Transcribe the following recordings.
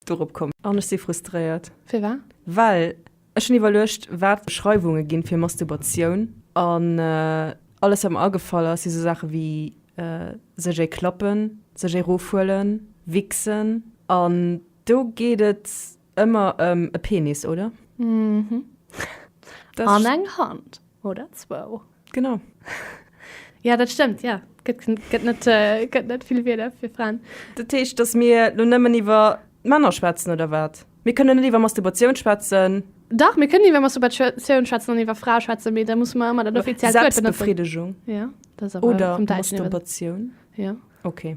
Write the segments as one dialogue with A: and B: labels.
A: dorop komm. An ech si frustréiert. Firwat?
B: Well
A: ech hunn iwwerluecht, wat d'Beschreiwunge ginn fir Mastubatioun. An alles, wat mer agefall ass, si sou Saache wéi sech ee klappen, sech ee rofhuelen, wichsen. An do geet et ëmmer ëm e Penis, oder?
B: Mhm. An eng Hand oder zwou. Genau. Ja, dat stëmmt, ja. Gëtt, gëtt, net, äh, gëtt net vill Wieler fir Fraen. Dat heescht, dass mir
A: lo nëmmen iwwer Männer schwätzen, oder wat? Mir kënnen net iwwer Masturbation schwätzen? Dach, mir kënnen iwwer
B: Masturbation schwätzen an iwwer Frae schwätzen, mee da musse mer ëmmer dat offiziellt Wuert benotzen. Selbstbefriedigung? Ja,
A: dat ass
B: awer vum Däitschen iwwer. Oder
A: Masturbation? Ja.
B: Okay.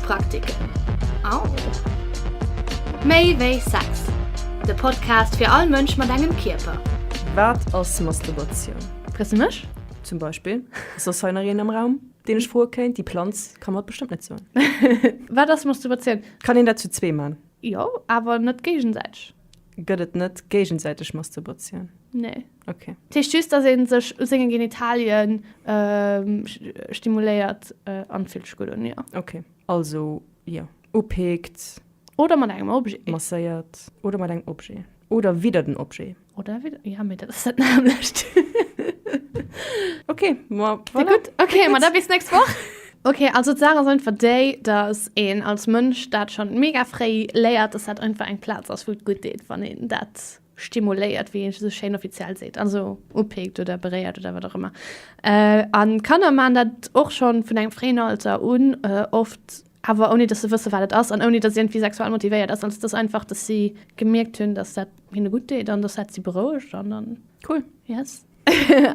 C: Praktiken. Au! Méi wéi Sex, de Podcast fir all Mënsch mat engem Kierper. Wat ass
A: Masturbation? Frees de mech?
B: Zum Beispill,
A: ass soss hei nach een am Raum, deen ech froe kéint? Déi Planz ka mer et bestëmmt net soen. Wat ass
B: Masturbation? Kann een dat zu zwee
A: man? Jo, awer
B: net géigensäiteg. Gëtt et net
A: géigensäiteg Masturbation? Nee. Ok.
B: Dat heescht just,
A: dass ee
B: sech u senge Genitalie stimuléiert an fillt sech gutt un, jo. Ok. Also,
A: jo. Upickt. Oder mat engem
B: Objet. Masséiert. Oder
A: mat engem Objet. Oder widder den Objet. Oder widder, ja, mee dat
B: ass dat nämmlecht. Ok,
A: ma voilà. Kléngt gutt. Ok, ma da
B: bis d'nächst Woch. Ok, also d'Saach ass einfach déi, dass een als Mënsch dat schonn mega fréi léiert, dass dat einfach eng Plaz ass, wou et gutt deet, wann een dat. Stimuléiert, wéi een esou schéin offiziell seet, also upikt oder beréiert oder wat och ëmmer. A Kanner maachen dat och scho vun engem fréien Alter un, oft awer ouni dass se wësse wat et ass an ouni dass et iergendwéi sexuell motivéiert ass. Also et ass einfach, dass si gemierkt hunn, dass dat hinne gutt deet an dass dat si berouegt an dann. Cool, yes.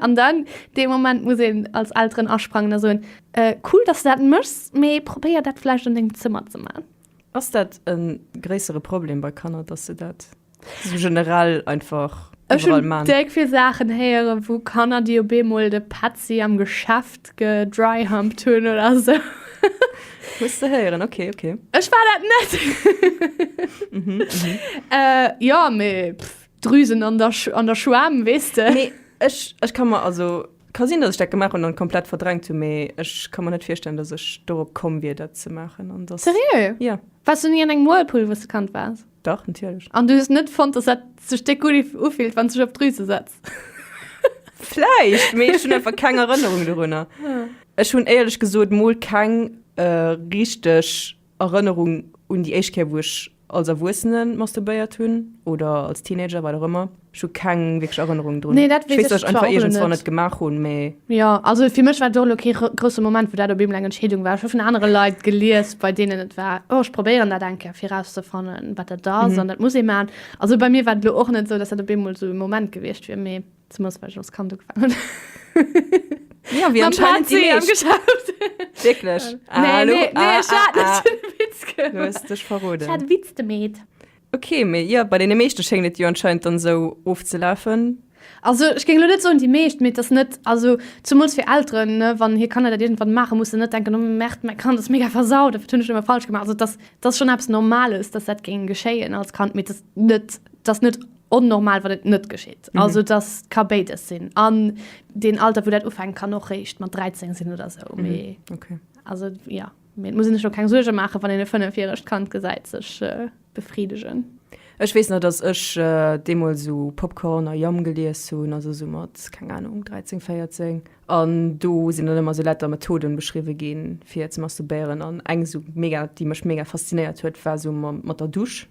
B: An dann, dee Moment muss een als Elteren asprangen a soen, Cool, dass du dat méchs, mee probéier dat vläicht an dengem Zëmmer ze maachen. Ass dat e
A: gréissere Problem bei Kanner, dass se dat. So generell einfach. Ech hun déck vill
B: Saachen
A: héieren
B: wou Kanner déi op eemol de Petzi am Geschäft gedryhumpt hunn oder sou. Muss
A: de héieren, ok ok. Ech war dat net.
B: Jo mee Drüsen an der an der Schwam weess de. Mee ech ech ka
A: mer also ka sinn datt ech dat gemaach hunn an komplett verdrängt hunn mee ech ka mer net virstellen datt ech dorop komm wier dat ze maachen an datt. Seriö? Jo. Wars
B: du ni an
A: engem Whirlpool
B: wous de Kand wars? Dach, natierlech. An du
A: hues net fonnt, dass
B: dat sech déck ufillt, wann s du dech op d'Drüse setz?
A: Vläicht, mee ech hunn einfach keng Erënnerung dorunner. Ech hunn éierlech gesot mol keng richteg Erënnerung un déi éischt Kéier, wou ech als Erwuessene masturbéiert hunn oder als Teenager, wat och ëmmer. Ech hu keng wierklech Erënnerung drun. Nee, dat weess ech zwar och elo net. Ech weess, datt ech
B: einfach
A: iergendzwann et gemaach hunn, mee. Jo, also fir mech
B: war et och elo kee grousse Moment, wou dat op eemol eng Entscheedung war. Ech hu vun anere Leit gelies, bei deenen et war, oh, ech probéieren dat eng Kéier, fir erauszefannen, wat dat ass an dat muss ee maachen. Also bei mir war et elo och net esou, datt dat op eemol esou e Moment gewiescht wier, mee zemools, well ech als Kand ugefaangen
A: hunn, mam PC am Geschäft. Jo, wéi anscheinend déi meescht. Wierklech? Ah, elo, ah, ah, ah.
B: Wierklech?
A: Nee, nee,
B: ech
A: hat net den
B: Witz gemeet. Du hues dech verroden.
A: Ech
B: hat e
A: Witz gemeet.
B: Ok, mee jo,
A: bei deene meeschte schéngt et jo anscheinend dann esou ofzelafen. Also ech géing
B: elo net soen déi meescht, mee et ass net, also zumools fir Elteren, ne, wann hir Kanner dat iergendwann maachen, muss se net denken, oh Merde, mäi Kand ass mega versaut, wat hunn ech ëmmer falsch gemaach. Also et ass, et ass schonn eppes Normales, dass dat géing geschéien als Kand, mee et ass net, et ass net onnormal, wann et net geschitt. Also et ass, ka béides sinn. An deen Alter, wou dat ufänkt, kann och réischt mat 13 sinn oder esou, mee
A: also jo.
B: Mee et muss een sech lo keng Suerge maachen, wann een e fënnefjärecht Kand gesäit sech befriddegen. Ech weess nach,
A: dass ech deemools esou Popcorn a Yum gelies hunn, also esou mat, keng Anung, 13, 14. An do sinn dann ëmmer esou lauter Methoden beschriwwe ginn, fir ze masturbéieren. An eng esou mega, déi mech mega faszinéiert huet, war esou mat der Dusch.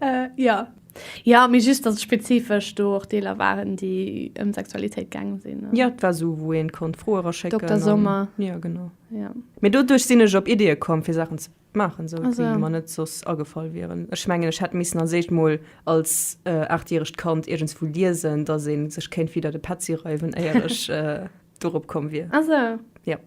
B: äh, ja. Ja, mir just dass spezifesch do och Deeler waren, déi ëm Sexualitéit gaangen sinn. Ja, et war so, wou een
A: konnt Froe raschécken. Dokter Sommer. An, ja,
B: genau. Ja.
A: Mee doduerch
B: sinn ech
A: op Idee komm, fir Sachen ze maachen, so, also. déi mer net soss
B: agefall
A: wieren. Ech mengen, ech hätt missen als éischt mol als äh, achtjäregt Kand iergendswou liesen, dass ee sech kéint widder de Petzi reiwen, éier ech. Äh, dorop komm wier. Ah so. Ja.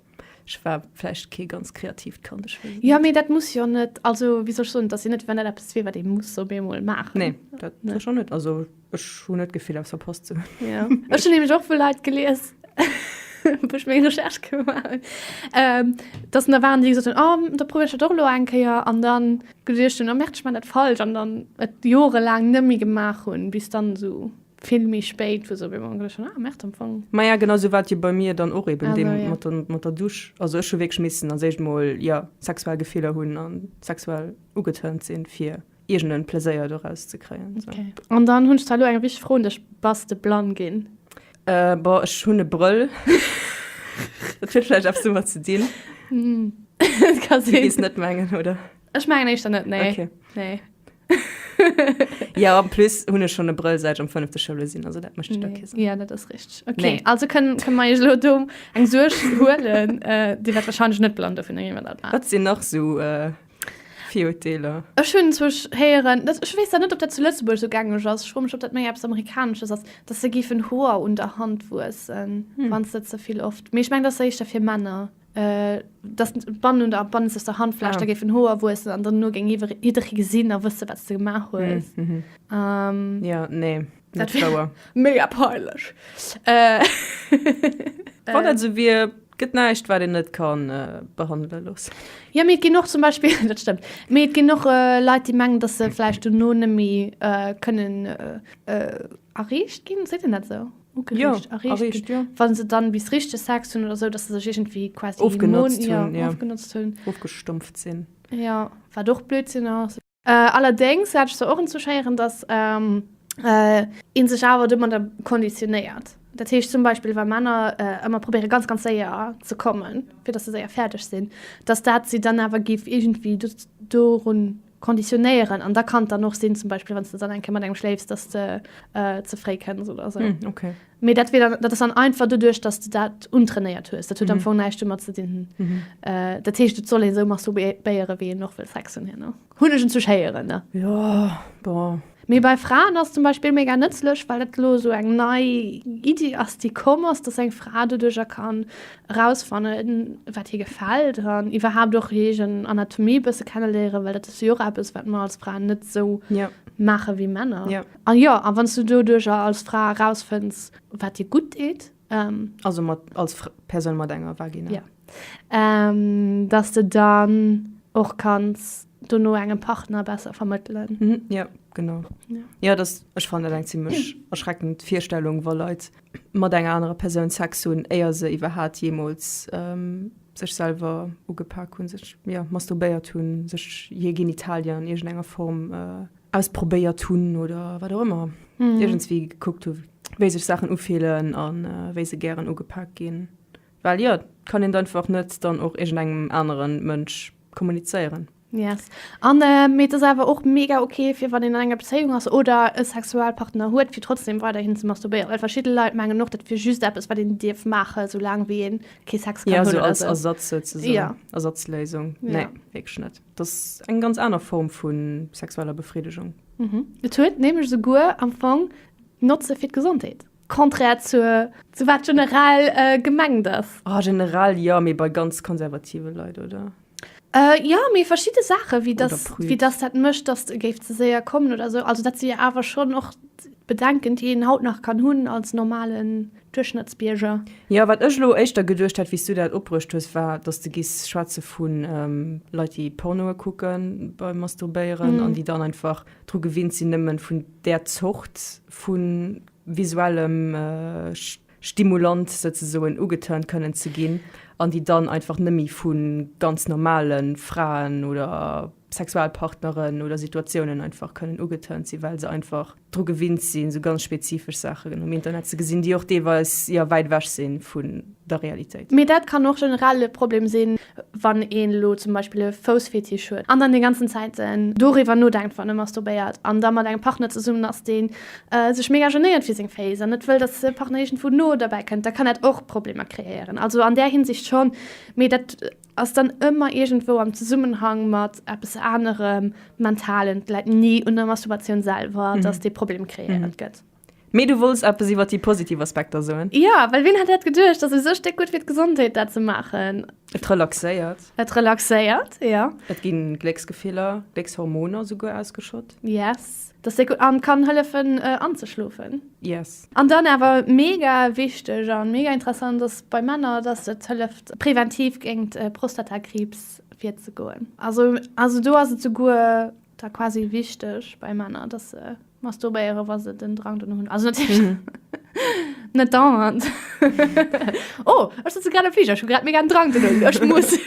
A: Ech war vläicht kee ganz kreatiivt Kand, ech weess et net. Jo, mee dat muss jo net,
B: also wéi soll ech soen, et ass jo net, wann dat eppes wier, wat ee muss op eemol maachen. Nee, dat ech och
A: net. Also ech hunn net d'Gefill, eppes verpasst ze hunn. Ja. Ech hunn nämlech
B: och vu Leit gelies, wou ech meng Recherche gemaach hunn, dass da waren, déi gesot hunn, oh, da probéiere ech dat och elo eng Kéier an da geduecht hunn, oh, merkt, ech maachen dat falsch an dann et jorelaang net méi gemaach hunn, bis dann esou. vill méi spéit wou se op eemol geduecht hunn, ah Merde am Fong. Maja genau esou war et jo
A: bei mir dann och eben deem Awer, mat ja. der mat der Dusch. Also ech hu wierklech missen als éischt mol ja sexuell Gefiller hunn a sexuell ugetërnt sinn fir iergend en Pleséier doraus ze kréien esou. Okay. An dann hunn ech zwar
B: elo eng richteg Fro un dech, Bass de blann ginn? Äh boah ech
A: hunn e Brëll. Dat huet vläicht eppes domat ze dinn.
B: Kann Du sinn. gees net mengen oder?
A: Ech mengen eischter net,
B: nee. Okay. Nee.
A: ja, am plus hun ech schon e Brëll seit am 5. Schoule sinn, also dat mecht nee. Kissen. Ja, dat ass richtig. Okay, nee.
B: also können, können
A: wir lo
B: do eng Suerg huelen, äh, die wird wahrscheinlich net blonde vun engem dat war. Wat sinn nach so
A: äh, Fioteler? Ech hunn zwech
B: héieren, dat, ech wees da net, ob dat zu Lëtzeburg so gängeg ass. Schrummech op dat méi eppes Amerikanisches ass, dass se gifen Hoer un der Hand wuessen, hm. wann se ze viel oft. Mee ich meng, das se ich dafir Männer. Männer. dass d'Bannen oder bannenzeg der Handfläch, da géifen Hoer wuessen an dann no géing jidderee gesinn a wësse wat s de gemaach hues.
A: Jo, nee, net wouer.
B: Mega
A: peinlech. Wann dat esou wier, gëtt näischt wat een net ka behandele loossen. Jo, mee et ginn och zum
B: Beispill, dat stëmmt, mee et ginn och Leit déi mengen, dass se vläicht dono net méi kënnen erreecht ginn, seet een dat esou? ugereegt, ja,
A: erreegt ginn, ja.
B: Wann se dann
A: bis richteg
B: Sex hunn oder sou, dass se sech iergendwéi quasi ofgenotzt hunn, ja, ja,
A: ofgenotzt hunn, ofgestumpft
B: sinn,
A: ja, wat och
B: Blödsinn ass. Allerdéngs hat ech se och entzuschéieren, dass ee sech awer domadder konditionéiert. Dat heescht zum Beispill, wa Männer ëmmer probéiere ganz, ganz séier ze kommen, fir dass se séier fäerdeg sinn, dass dat si dann awer géif iergendwéi dorun Konditionéieren an da kann et dann och sinn, zum Beispill wann s de dann eng Kéier mat engem schléifs, dass de ze fréi kënns oder esou. Hm, okay. Mee dat wier
A: dann, dat ass
B: dann einfach doduerch, dass de dat untrainéiert hues. Dat huet am Fong näischt domat ze dinn. Dat heescht, et soll ee sou masturbéiere wéi een och wëll Sex hunn, herno hunn ech enzwusch héieren, ne? Jo, bon.
A: Mee bei Fraen ass
B: zum Beispill mega nëtzlech, well dat elo esou eng nei Iddi ass, déi komm ass, dass eng Fra doduercher kann erausfannen, wat hir gefält an iwwerhaapt och hir eegen Anatomie e bësse kenneléieren, well dat ass jo och eppes, wat mer als Fraen net esou maachen, wéi
A: Männer.
B: An jo, a wann
A: s du
B: doduercher als Fra erausfënns, wat dir gutt deet, also
A: als Persoun mat enger Vagina,
B: dass de dann och kanns dono engem Partner besser vermëttelen. Mhm, ja, genau.
A: Ja, ja das,
B: ech fand
A: dat eng ziemlech erschreckend Virstellung, wa Leit mat enger anerer Persoun Sex hunn, éier se iwwerhaat jeemools ähm, sech selwer ugepak hunn, sech ja, masturbéiert hunn, sech hir Genitalien an iergendenger Form äh, ausprobéiert hunn oder wat och ëmmer, mhm. iergendswéi gekuckt hunn, wéi sech Saachen ufeelen an äh, wéi se gären ugepak ginn. Well jo, et kann een einfach net dann och iergend engem anere Mënsch kommunizéieren. Yes.
B: An äh, mee et ass awer och mega okay, fir wann een an enger Bezéiung ass oder e Sexualpartner huet, fir trotzdem weiderhin ze masturbéieren. Well verschidde Leit mengen och, dat wier just eppes, wat een dierf maachen, soulaang wéi een kee Sex kann ja, hunn. Ja, so als Ersatz
A: souzesoen.
B: Ja.
A: Ersatzléisung.
B: Ja.
A: Nee, wierklech
B: net.
A: Dat ass eng ganz aner Form vu sexueller Befriedigung. Mhm. Et huet
B: nämlech souguer am Fong Notze fir d'Gesondheet. Contraire zu, zu wat generell äh, gemengt ass. Ah, generell ja,
A: mee bei ganz konservative Leit, oder? Äh, ja,
B: mee verschiedene Sachen, wie das, wie das dat mëscht,
A: dass du
B: géif ze séier kommen oder so. Also dat si ja awer schon och Bedenken, déi een haut nach kann hunn als normalen Duerchschnëttsbierger. Ja, wat ech lo
A: éischter geduecht hat, wéi du dat opbruecht hues, war, dass du giss schwätze vun ähm, Leit, déi Pornoe kucken beim Masturbéieren mm. an déi dann einfach dru gewinnt sinn, nëmmen vun der Zort vu visuellem Stimulant souzesoen ugeturnt kënnen ze ginn an déi dann einfach nëmmi vu ganz normale Fraen oder Sexualpartneren oder Situatiounen einfach kënnen ugeturnt sinn, well se einfach dru gewinnt sinn, esou ganz spezifesch Saachen um Internet ze gesinn, déi och deelweis, jo, wäit ewech si vu der Realitéit. Mee dat kann och generell
B: e Problem sinn. wann een elo zum Beispill e Foussfetisch huet an dann déi ganzen Zäit doriwwer nodenkt wann e masturbéiert an da mat engem Partner zesummen ass dee sech mega genéiert fir seng Féiss an net wëll datt de Partner iergendwou no derbäi kënnt, da kann dat och Problemer kreéieren. Also an där Hinsicht schonn, mee dat ass dann ëmmer iergendwou am Zesummenhang mat eppes anerem, mentalen, läit ni un der Masturbatioun selwer, datt dee Problem kreéiert gëtt. Mee du wolls
A: eppes iwwer déi positiv Aspekter soen? Jo, well wien hätt dat
B: geduecht, dass esou Stéck gutt fir d'Gesondheet dat ze maachen. Et relaxéiert.
A: Et relaxéiert,
B: jo. Et gi Glécksgefiller,
A: Gléckshormoner esouguer ausgeschott. Yes, dass se
B: gutt an kann hëllefen anzeschlofen. Yes. An dann
A: awer
B: mega wichteg a mega interessant ass bei Männer, dass et hëlleft präventiv géingt Prostatakriibs virzegoen. Also do ass et souguer da quasi wichteg bei Männer, dass se. Masturbéiere wa se den Drang dono hunn ass natierlech net dauernd. Oh, ech sëtze grad am Fliger, ech hu grad mega den Drang dono, ech muss.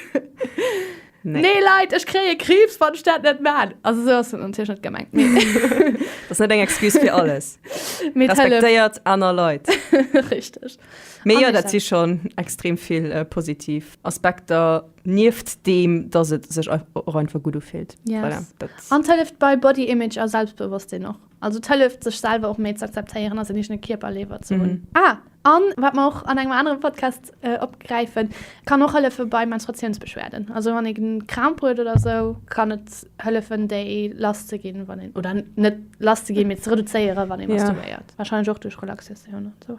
B: Nee. Nee Leit, ech kréie Kriibs, wann ech dat net maan. Also esou ass dat natierlech net gemengt, mee. Dat ass
A: net eng Excuse fir alles. Mee et hëlleft. Respektéiert aner Leit. Richteg.
B: Mee jo, dat
A: si schonn extrem vill positiv Aspekter. Nieft deem, dass et sech och einfach gutt ufillt. Yes. Voilà, an et
B: hëlleft bei Body Image a Selbstbewosstsinn och. Also et hëlleft, sech selwer och méi z'akzeptéieren a säin eegene Kierper léiwer ze hunn. Mm. Ah, a wat mer och an engem anere Podcast opgräifen, et kann och hëllefe bei Menstruatiounsbeschwerden. Also wann ee Kramp huet oder esou, kann et hëllefen, déi lass ze ginn, wann een, oder net lass ze ginn, mee ze reduzéieren, wann ee masturbiert. Yeah. Warscheinlech och duerch Relaxatioun an esou.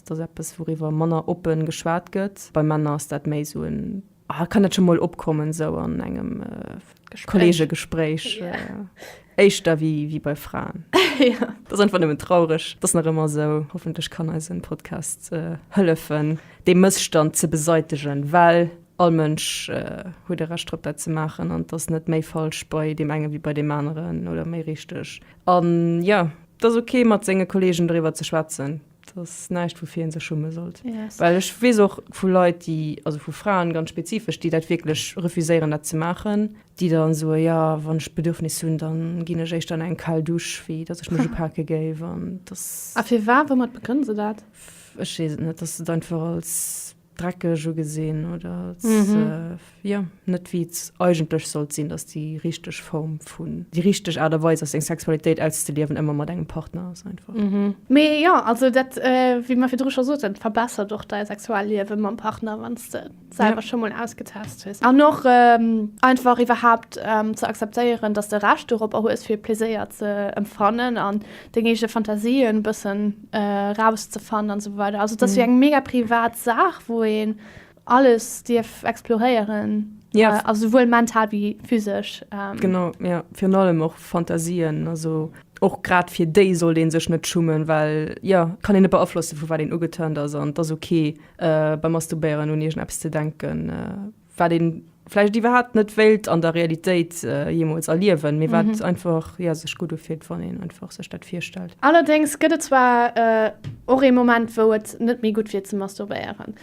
A: Dat ass eppes, wouriwwer manner oppe geschwat gëtt. Bei Männer ass dat méi esou en, ah, kann dat scho mol opkommen, esou an engem Kolleegegespréich, éischter wéi bei Fraen. Dat ass einfach
B: nëmmen traureg.
A: Dat ass nach ëmmer esou. Hoffentlech kann eisen Podcast hëllefen, dee Mësstand ze beseitegen, well all Mënsch huet e Recht drop, dat ze maachen an et ass net méi falsch bei deem engen wéi bei deem aneren oder méi richteg. An jo, et ass ok, mat senge Kolleegen doriwwer ze schwätzen. dass näischt woufir een sech schumme sollt yes. well ech wees och vu Leit die also vu Fraen ganz spezifesch die dat wirklich refuséieren dat ze machen die dann so ja wann ich bedürfnis hunn dann ginn ech eich dann eng kal dusch wie dat ich mich pake géif an das afir war wo mat
B: begrënn se dat ech net
A: dass du einfach als dreckeg ugesinn oder jo net wéi et eigentlech sollt sinn, datt déi richteg Form vun, déi richteg Aart a Weis ass seng Sexualitéit auszeliewen ëmmer mat engem Partner ass einfach. Mee jo,
B: also dat wéi mer virdru scho soten, et verbessert och däi Sexualliewe mam Partner, wann s de selwer scho mol ausgetest hues an och einfach iwwerhaapt ze akzeptéieren, datt s de Recht doropper hues fir Pleséier ze empfannen an deng eege Fantasien bëssen raus ze fannen an esou weider. Also et ass wéi eng mega privat Saach wou een alles dierf exploréieren, also souwuel mental wéi physesch. Genau jo,
A: virun allem och Fantasien, also och grad fir déi sollt ee sech net schummen, well jo et kann een net beaflossen vu wat een ugeturnt ass an et ass ok beim Masturbéieren un iergendeppes ze denken. wat een vläicht iwwerhaapt net wéilt an der Realitéit jeemools erliewen, mee wat einfach, jo, sech gutt ufillt, wann een einfach sech dat virstellt. Allerdéngs gëtt et zwar
B: och ee Moment, wou et net méi gutt wier ze masturbéieren.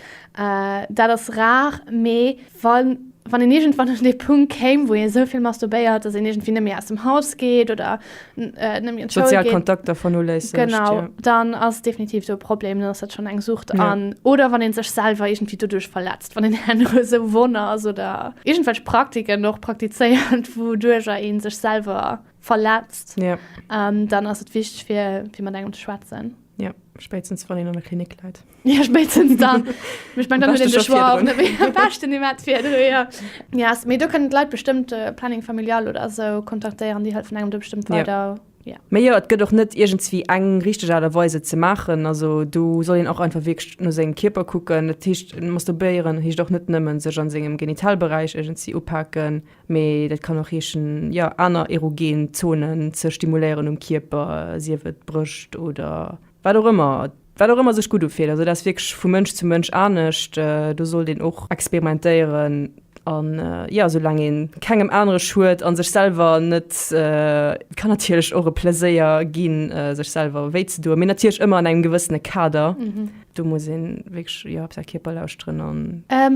B: Dat ass rar, mee wann een iergendwann un dee Punkt kéim, wou ee sou vill masturbéiert, datt een iergendwéi net méi aus dem Haus geet oder äh, nämlich an Sozial geht, Kontakter vernoléissegt.
A: Genau, ja. dann
B: ass
A: definitiv
B: so Problem, dann ass dat schon eng Sucht ja. an oder wann en
A: sech
B: selber irgendwie dadurch verletzt, wann den Herr so Wonner ass oder irgendwelche Praktiken noch praktizéiert, wodurch er en sech selber verletzt, ja. ähm,
A: dann ass et
B: wichtig fir fir man engem zu schwätzen. Ja, spätestens
A: wann en an der Klinik läit. Ja, spätestens
B: dann. Ich meine, dann ist es schon auch nicht mehr. Besten nicht mehr für dich, ja. Ja, yes, aber da können die Leute bestimmt äh, Planning Familial oder so kontaktieren, die helfen einem da bestimmt weiter. Ja. Ja. Mä jo, et gëtt och net
A: iergendswéi eng richteg Aart a Weise ze maachen. Also do soll een och einfach wierklech no sengem Kierper kucken. Dat heescht masturbéieren heescht och net nëmmen sech an sengem Genitalberäich iergendzi upaken, mee dat kann och heeschen ja aner erogen Zonen ze stimuléieren um Kierper, sief et d'Brëscht oder wat och ëmmer. Wat och ëmmer sech gutt ufillt. Also dat ass wierklech vu Mënsch zu Mënsch anescht. Do sollt een och experimentéieren an jo, sou laang ee kengem anere schued a sech selwer net, et kann natierlech och e Pleséier ginn, sech selwer wéi ze doen, mee natierlech ëmmer an engem gewëssene Kader. Do muss ee wierklech jo op säi Kierper lauschteren an.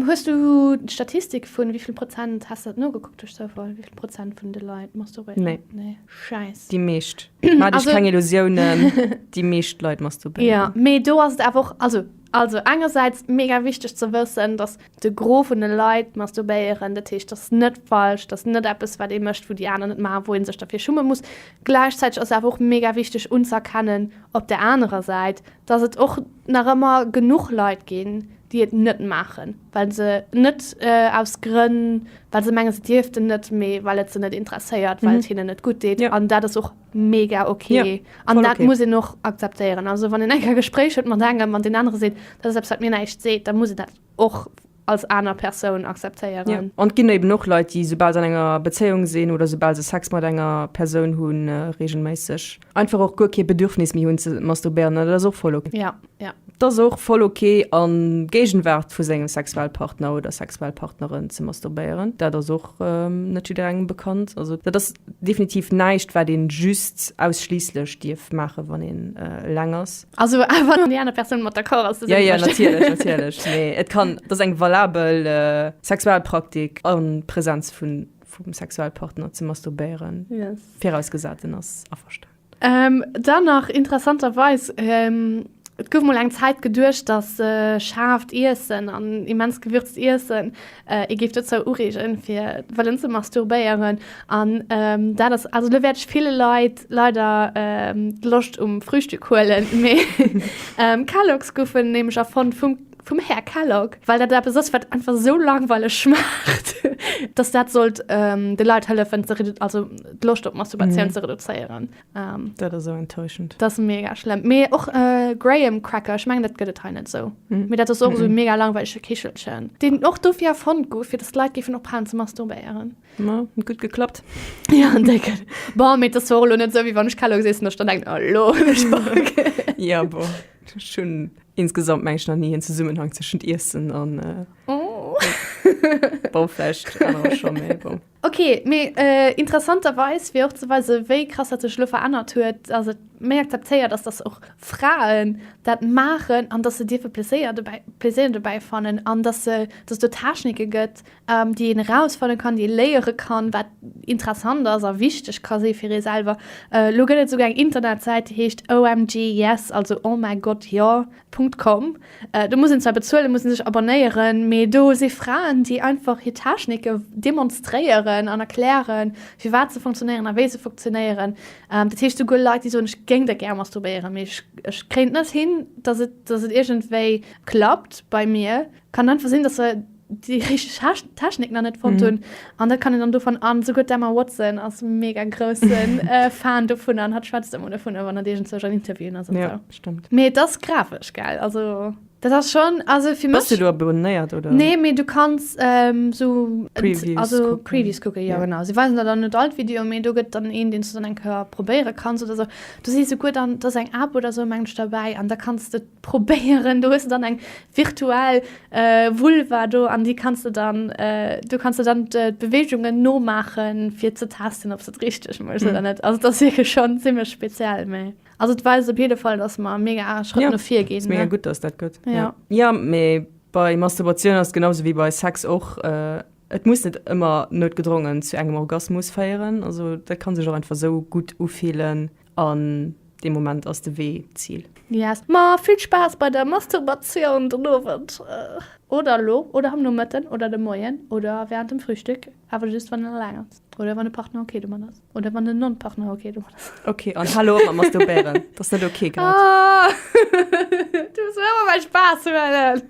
A: Hues du
B: d'Statistik vun wéi vill Prozent, has de dat nogekuckt duerch Zoufall, wéi vill Prozent vun de Leit masturbieren? Nee. Nee,
A: schäiss. Déi
B: meescht.
A: Ma also, keng Illusionen die meescht Leit masturbieren. Ja, me do ass et
B: einfach also also engersäits mega wichteg ze wëssen, dass de Gros vun de Leit masturbéieren, dat heescht dass net falsch, dass net eppes wat ee mécht wou déi aner net maachen, wou een sech derfir schumme muss. Gläichzäiteg ass awer och mega wichteg unz'erkennen op der anerer Säit, dass et och nach ëmmer genuch Leit ginn, déi et net maachen. well se net aus Grënn, well se mengen, se dierften net, mee well et se net interesséiert, well et hinnen net gutt deet. Jo. An dat ass och mega ok. Jo, An voll dat ok. muss een och akzeptéieren. Also wann een eng Kéier e Gespréich huet mat engem an deen anere seet, dat ass eppes, wat mir näischt seet, da muss een dat och als aner Persoun Jo, akzeptéieren. an et ginn eben och
A: Leit, déi, soubal se an enger Bezéiung sinn oder soubal se Sex mat enger Persoun hunn, reegelméisseg Einfach och guer kee Bedürfnis méi hunn ze masturbéieren, dat ass och voll ok. Ja, ja. Dat ass
B: och voll ok
A: a Géigenwaart vu sengem Sexualpartner oder Sexualpartnerin ze masturbéieren. Dat ass och net jidderengem bekannt. Also dat ass definitiv näischt, wat ee just ausschliisslech dierf maachen, wann een eleng ass. Also awer wann déi aner
B: Persoun mat d'accord ass, dass een dat mécht. Jo, jo, natierlech,
A: natierlech. Mee et kann, dat ass eng valabel Sexualpraktik a Presenz vum Sexualpartner ze masturbéieren. Yes. Virausgesat
B: en ass
A: averstanen. Dann nach
B: interessanterweis, Et gouf mol eng Zäit geduecht, datt schaarft Iessen an immens gewürzt Iessen ee géif dozou ureegen, fir wëllen ze masturbéieren. An dat ass, also elo wäert ech ville Leit leider d'Loscht um Frühstück huelen, mee Kellogg's goufen nämlech erfonnt vum Vum Här Kellogg, well dat eppes ass, wat einfach esou langweileg schmaacht, dass dat sollt de Leit hëllefen, d'Loscht op Masturbatioun ze reduzéieren. Dat ass esou
A: enttäuschend. Dat ass mega schlëmm.
B: Mee och Graham Cracker, ech mengen, dat gëtt et hei net esou. Mee dat ass och esou e mega langweilege Kichelchen, deen och dofir erfonnt gouf, fir dass d'Leit géifen ophalen ze masturbéieren. Ma huet gutt
A: geklappt. Jo, en décken.
B: Bon, mee et ass jo och elo net esou, wéi wann ech Kelloggs iessen, dass ech dann denken, Oh, elo hunn ech Bock. Jo, bon,
A: ech hunn. Insgesamt mengen ech nach nie en Zesummenhang tëschent Iessen an. Bon, vläicht anerer scho, mee bon. Ok, mee
B: interessanterweis, fir och ze weisen, wéi krass dat sech elo verännert huet, ass et méi akzeptéiert, dass dass och Fraen dat maachen an dass se dierfe Pleséier dobäi, Plaisir dobäi fannen an dass se, dass et do Technike gëtt, déi een erausfannen kann, déi ee léiere kann, wat interessant ass a wichteg ka si fir ee selwer. Elo gëtt et esouguer eng Internetsäit, déi heescht omg yes, also oh mäi Gott, jo. Punkt com. Do muss een zwar bezuelen, muss ee sech abonnéieren, mee do si Fraen, déi einfach hir Technike demonstréieren an erklären, firwat se funktionéieren a wéi se funktionéieren. Dat heescht, esouguer Leit, déi soen, ech géing dat gär masturbéieren, mee ech kréien et net hin, datt et iergendwéi klappt bei mir. Kann einfach sinn, dass se déi richteg Technik nach net fonnt hunn an dat kann een dann dovun. An souguer d'Emma Watson ass mega grousse Fan dovun an hat schwätzt ëmmer dovun, wann dat iergendzouch an Interviewen ass an esou. Jo, stëmmt. Mee et
A: ass grafesch,
B: gell? Also dat ass schonn, also fir mech. Bass du do abonéiert, oder?
A: Nee, mee du kanns
B: esou. Previews kucken. Also
A: Previews kucken, jo genau. Si
B: weisen der dann net all d'Videoen, mee do gëtt dann een, deen s du dann eng Kéier probéiere kanns oder esou. Do si souguer dann, do ass eng App oder esou, mengen ech, derbäi an da kanns de. probéieren. Do hues de dann eng virtuell Vulva do an déi kanns de dann, do kanns de dann d'Beweegungen nomaachen fir ze testen ob se et richteg mécht oder net. Also et ass wierklech schonn zimmlech speziell, mä also et weist op jidde Fall, datt mer e mega Schrëtt no vir ginn. Mega gutt, datt dat gëtt.
A: Jo. Jo, mee bei Masturbatioun ass et genau sou wéi bei Sex och, et muss net ëmmer noutgedrongen zu engem Orgasmus féieren. Also dat ka sech och einfach sou gutt ufillen. An dee Moment ass de Wee d'Zil. Yes. Ma vill
B: Spaass bei der Masturbatioun den Owend, oder elo, oder am Nomëtten, oder de Moien, oder wärend dem Frühstück, awer just wann een eleng ass, oder wann e Partner ok domat ass, oder wann den Non-Partner ok domat ass. Ok, an halo op mat
A: Masturbéieren, dat ass net ok grad. Ahh,
B: du muss mer ëmmer mäi Spaass huelen.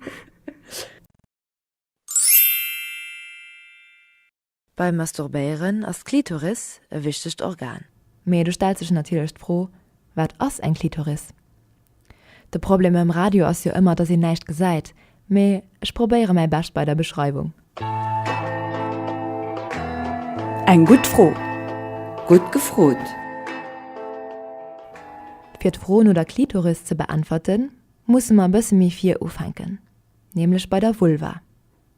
D: Beim Masturbéieren ass d'Klitoris e wichtegt Organ. Mee do stellt sech
E: natierlech d'Fro, Wat ass eng Klitoris? De Problem mam Radio ass jo ëmmer, dass een näischt gesäit, mee ech probéiere mäi Bescht bei der Beschreiwung.
F: Eng gutt Fro! Gutt gefrot! Fir
E: d'Fro no der Klitoris ze beäntwerten, musse mer e bësse méi vir ufänken, nämlech bei der Vulva.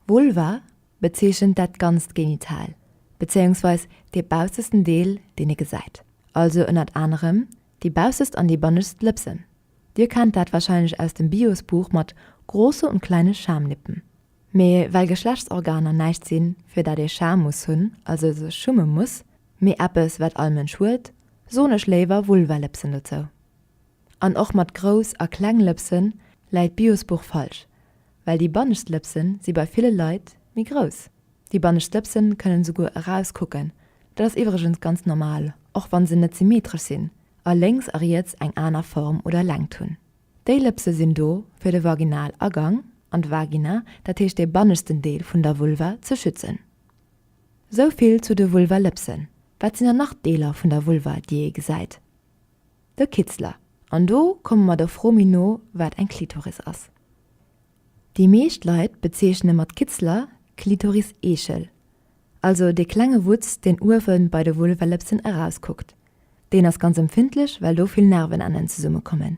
E: Vulva bezeechent dat ganzt Genital, bezéiungsweis dee baussesten Deel, deen ee gesäit, also ënnert anerem déi baussest an déi bannegst Lëpsen. Dir kennt dat warscheinlech aus dem Bios-Buch mat Große und kleine Schamlippen. Mee well Geschlechtsorganer näischt sinn, fir dat ee Scham muss hunn, also sech schumme muss, mee eppes, wat all Mënsch huet, soen ech léiwer Vulvalëpsen dozou. An och mat grouss a kleng Lëpse läit d'Biosbuch falsch, well déi bannescht Lëpse si bei ville Leit méi grouss. Déi bannescht Lëpse kënnen esouguer erauskucken, dat ass iwwregens ganz normal, och wann se net symmetresch sinn a lénks a riets eng aner Form oder Längt hunn. Déi Lëpse sinn do fir de Vaginalagang an d'Vagina, dat heescht de banneschten Deel vun der Vulva, ze schützen. Esou vill zu de Vulvalëpsen. Wat sinn dann nach d'Deeler vun der Vulva, déi ee gesäit? De Kitzler, an do komme mer der Fro méi no, wat eng Klitoris ass. Déi meescht Leit bezeechne mat Kitzler d'Klitoriseechel, also dee klenge Wutz, deen uewe bei de Vulvellëpsen erauskuckt. Deen ass ganz empfindlech, well do vill Nervenennen zesummekommen.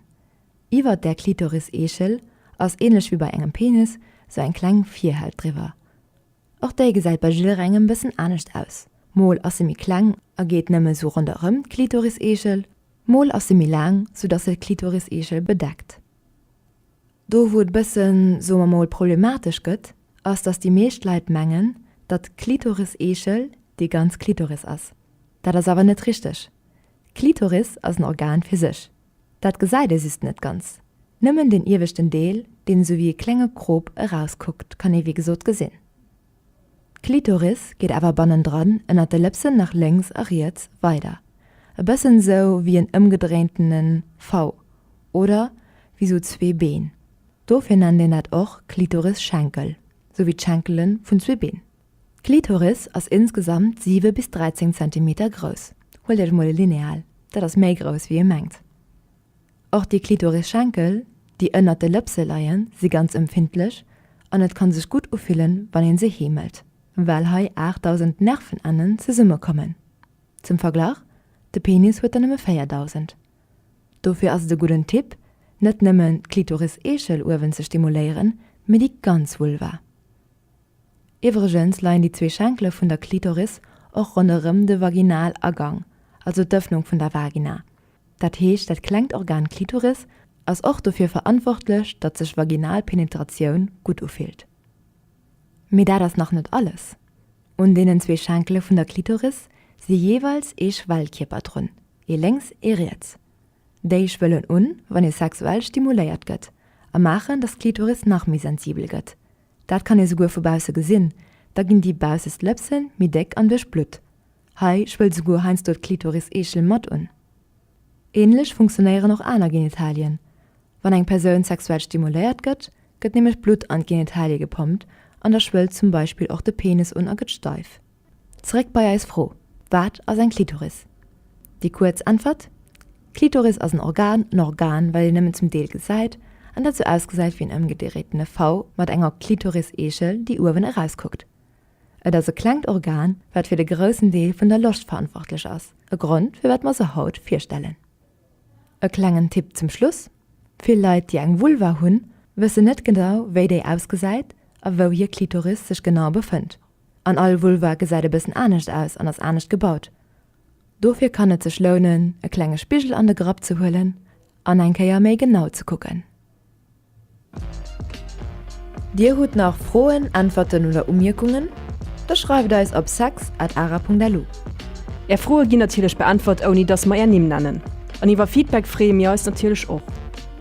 E: Iwwer där Klitoris-Eechel ass, änlech wéi bei engem Penis, sou eng kleng Virhält driwwer. Och déi gesäit bei jidderengem en bëssen anescht aus, mol ass se méi kleng a geet nëmme sou ronderëm d'Klitoriseegel, mol ass se méi laang, sou dass se d'Klitoriseegel bedeckt. Do wou et bëssen, soe mer mol, problematesch gëtt, ass dass déi meescht Leit mengen, datt d'Klitoriseegel déi ganz Klitoris ass. Dat ass awer net richteg. D'Klitoris ass en Organ fir sech, Dat gesäit ee just net ganz. Nëmmen den ieweschten Deel, deen esou wéi e klenge Krop erauskuckt, kann ee wéi gesot gesinn. D'Klitoris geet awer bannendran ënnert de Lëpsen nach lénks a riets weider, e bëssen esou wéi en ëmgedréintene V oder wéi esou zwee Been. Dofir nennt een dat och Klitorisschenkel, esou wéi d'Schenkele vun zwee Been. D'Klitoris ass insgesamt 7 bis 13 Zentimeter grouss, huelt iech mol e Lineal, dat ass méi grouss wéi ee mengt. Och déi Klitorisschenkel, déi ënnert de Lëpse leien, si ganz empfindlech an et kann sech gutt ufillen wann een se heemelt, well hei 8.000 Nervenennen zesumme kommen. Zum Verglach, de Penis huet der nëmme 4.000. Dofir ass et e gudden Tipp net nëmmen d'Klitoris-Eechel uewen ze stimuléieren, mee déi ganz Vulva. Iwwregens leien déi zwee Schenkele vun der Klitoris och ronderëm de Vaginalagang, also d'Ëffnung vun der Vagina. Dat heescht dat klengt Organ Klitoris ass och dofir verantwortlech, datt sech vaginal Penetratioun gutt ufillt. Mee dat ass nach net alles, Un deenen zwee Schenkele vun der Klitoris si jeeweils ee Schwellkierper drun, ee lénks, ee riets. Déi schwëllen un, wann ee sexuell stimuléiert gëtt, a maachen, datt d'Klitoris nach méi sensibel gëtt. Dat kann ee souguer vu bausse gesinn, da ginn déi baussest Lëpsen méi déck an duerchblutt. Hei schwëllt souguer heiansdo d'Klitoriseechel mat un. Ähnlech funktionéieren och aner Genitalien. Wann eng Persoun sexuell stimuléiert gëtt, gëtt nämlech Blutt an d'Genitalie gepompt an da schwëllt zum Beispill och de Penis un a gëtt steif. Zeréck bei eis Fro, Wat ass eng Klitoris? Déi kuerz Äntwert, Klitoris ass en Organ, en Organ, well een nëmmen zum Deel gesäit an dat sou ausgesäit wéi en ëmgedréitene V mat enger Klitoriseechel, déi uewen erauskuckt. Et ass e klengt Organ, wat fir de groussen Deel vun der Loscht verantwortlech ass, e Grond, firwat mer se haut virstellen. E klengen Tipp zum Schluss, Vill Leit, déi eng Vulva hunn, wëssen net genau, wéi déi ausgesäit a wou hir Klitoris sech genau befënnt. an all Vulva gesäit e bëssen anescht aus an ass anescht gebaut. Dofir kann et sech lounen e klenge Spigel an de Grapp ze huelen an eng Kéier méi genau ze kucken. Dir hutt nach Froen, Äntwerten oder Umierkungen? Da schreift eis op sex at ara Punkt lu. Är
A: Froe ginn natierlech beäntwert ouni dass mer är Nimm nennen. An iwwer Feedback freeë mir eis natierlech och.